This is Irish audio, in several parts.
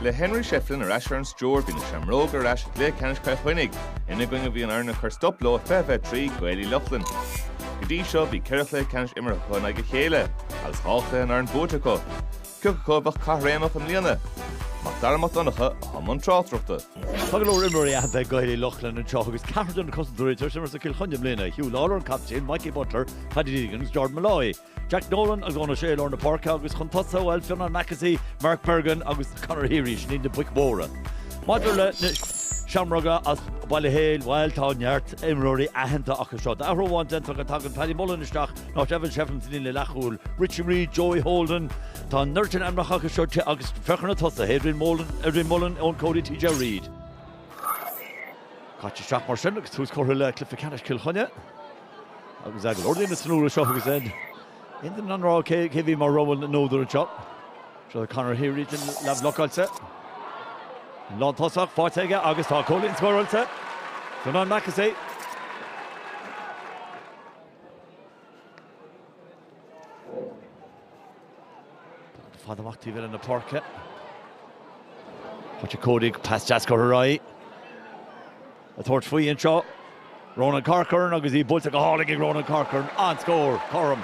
Le Henry Shefflin ar ais ar an stiúir, bhí na Seamróga ar ais i gcluiche ceannais Chill Chainnigh, ina gcoinne a bhí an fhoireann a chuir stop leo 20-23 Gaeil Uí Lochlainn. Go dtí seo, bhí ceithre chluiche ceannais imeartha acu in aghaidh a chéile, agus dhá chluiche an fhoireann buaite acu. Cé acu a bheadh caithréimeach i mbliana, Mac Dara Mac Donncha i mbun tráchtaireachta. Tá go leor imreoirí aitheanta ag Gaeil Uí Lochlainn anseo agus ceathrar de na cosantóirí tar éis imirt do Chill Chainnigh i mbliana, Huw Lawlor, an captaen, Mikey Butler, Paddy Deegan agus Jordan Molloy. Jack Nolan agus Eoin O'Shea i lár na páirce agus chun tosaigh, bhuel, Fionán Mackessy, Mark Bergin agus Conor Heary, sin iad na boic mhóra. Maidir le na Seamróga as Baile Héil, bhuel tá neart imreoirí aitheanta acu seo. Athrú amháin déanta, tagann Paddy Mullen isteach in áit Evan Shefflin sa líne leathchúil, Richie Reid, Joey Holden. Tá neart ainmneacha acu seo agus féach ar na tosaithe, Adrian Mullen, Eoin Cody, TJ Reid. Caite isteach mar sin agus tús curtha le cluiche ceannais Chill Chainnigh. Agus ag lorg na honóra seo agus aon duine in ann a rá cé a bhí mar rogha na n-údar anseo. Seo Conor Heary den leathbhlocáilte. An lántosach faighte aige agus tá cúilín scóráilte. Fionán Mackessy Tá fada amach taobh eile na páirce. Faighte ag Cody, pas deas curtha ar aghaidh. Ag tabhairt faoi anseo, Ronan Corcoran agus í buailte go hálainn ag Ronan Corcoran, an-scór, cothrom.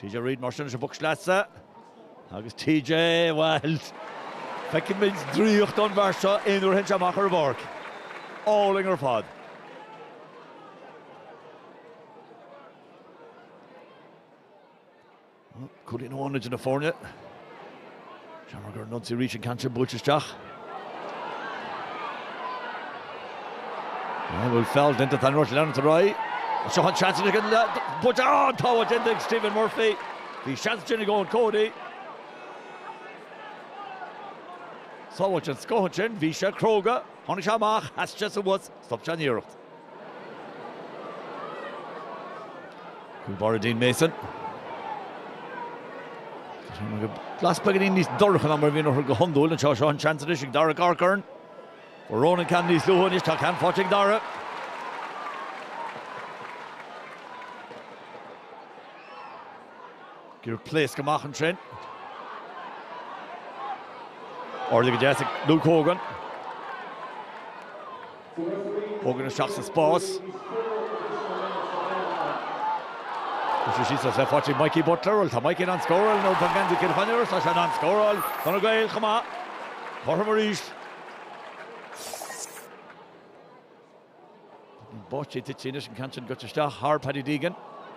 TJ Reid mar sin leis an bpoc sleasa agus TJ bhuel feicimid draíocht ón bhfear seo aon uair a théann sé amach ar an bpáirc. Álainn ar fad. Cúilín amháin idir na foirne. Seamróga ar an ionsaí arís, an ceann sin buailte isteach. An bhfuil feall déanta tá an Rois leanúint ar aghaidh. Seo an seans ag an buaite an-sábháil déanta ag Stephen Murphy. Bhí seans ansin ag Eoin Cody. Sábháil den scoth ansin, bhí sé cróga, tháinig sé amach, sheas sé suas, stop sé an iarracht. Báire Dean Mason. Glas beagáinín níos dorcha ná mar a bhíonn orthu go hiondúil anseo. Seo an seans anois ag Darragh Corcoran. Fuair Ronan ceann níos luaithe anois. Tá ceann faighte ag Darragh. Gur pléasc amach ansin. Ardaithe go deas ag Luke Hogan. Hogan isteach sa spás. Is é siúd sa tsliocht faighte ag Mikey Butler. Bhuel, tá Mikey in ann scóráil nuair atá geansaí Chill Chainnigh air, tá sé in ann scóráil do na Gaeil chomh maith. Cothrom arís. Báisteach ag titim anois an ceann sin curtha isteach thar Paddy Deegan.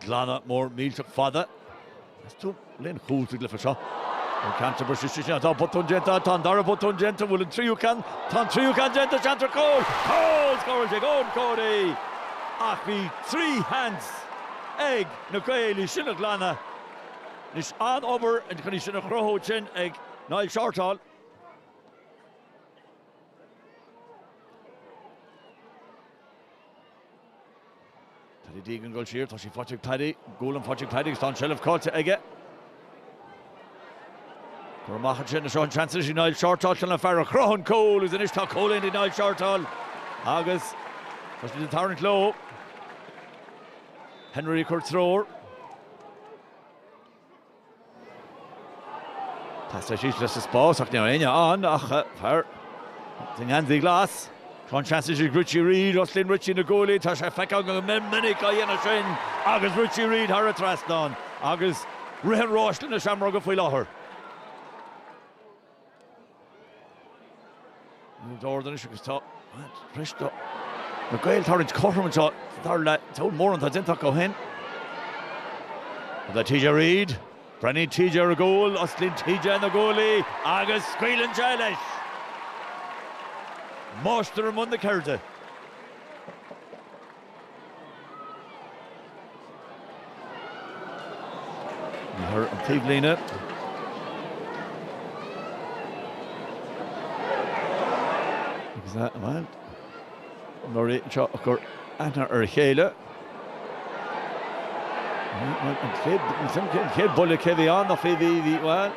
Glanadh mór millteach fada as an líne chúil sa gcluiche seo. An ceann curtha síos ansin atá botún déanta, tá an dara botún déanta, bhfuil an tríú ceann, tá an tríú ceann déanta, seans ar chúl, cúl scóráilte ag Eoin Cody! Ach bhí trí sheans ag na Gaeil í sin a ghlanadh. Anois, an-obair chun í sin a chruthú ansin ag Niall Shortall. Paddy Deegan ag dul siar, tá sí faighte ag Paddy, buaileann faighte ag Paddy agus tá an tseilbh caillte aige. Curtha amach ansin seo an seans ag Niall Shortall sin an fear a chruthaigh an cúl agus anois tá cúilín ag Niall Shortall agus tá siad ag tarraingt leo. Henry ag cur treoir. Castar síos leis sa spás ach níl éinne ann ach fear an gheansaí ghlais. Tá an seans ag Richie Reid, Osclaíonn Richie na guaillí, tá sé feicthe go minic á dhéanamh sin agus Richie Reid thar an trasnán agus ritheann ráis leis na Seamróga faoi láthair. An-ard anois agus tá teipthe ar na Gaeil tarraingt cothrom anseo dáiríre a lán mórán atá déanta acu ó shin. Tá TJ Reid, breathnaíonn TJ ar an gcúl, osclaíonn TJ na guaillí agus scaoileann sé leis. Máistir i mbun na ceirde. Ar an taobhlíne. Agus é, bhuel, na fir anseo ag cur aithne ar a chéile. An chéad buille cé bhí ann, nach bhí, bhí, bhí, bhuel,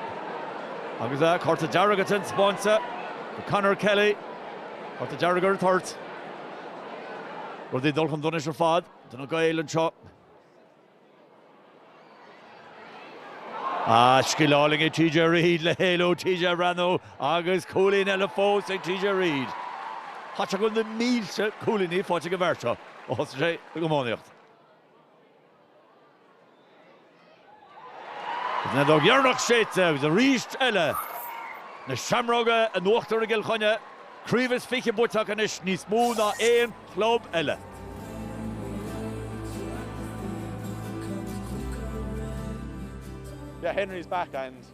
agus tá cárta dearg á thaispeáint do Conor Kelly. Cárta dearg ar an toirt. Rudaí ag dul chun donais ar fad do na Gaeil anseo. Ah, scil álainn ag TJ Reid le héalú TJ ag breathnú agus cúilín eile fós ag TJ Reid. Caithfidh go bhfuil na mílte cúilíní faighte ag an bhfear seo ó thosaigh sé ag iománaíocht. An fheadóg dheireanach séidte agus arís eile, na Seamróga in uachtar i gCill Chainnigh, craobh is fiche buaite acu anois, níos mó ná aon chlub eile. Yeah, Henry's back and.